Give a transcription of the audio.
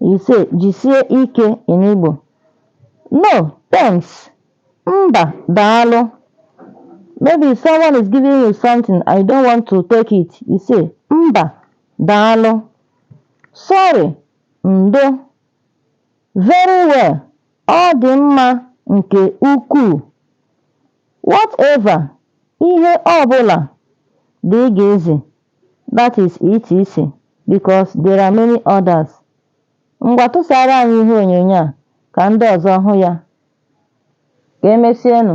You say jisie ike in Igbo. No, thanks. Mba, daalụ. Maybe someone is giving you something and you don't want to take it. You say mba, daalụ. Sorry, ndo. Very well, ọ dị mma nke ukwuu. Whatever, ihe ọ bụla, dgz. that is etc because there are many others. Ngwa tụsara anyị ihe onyonyo a ka ndị ọzọ hụ ya. Ka emesienụ.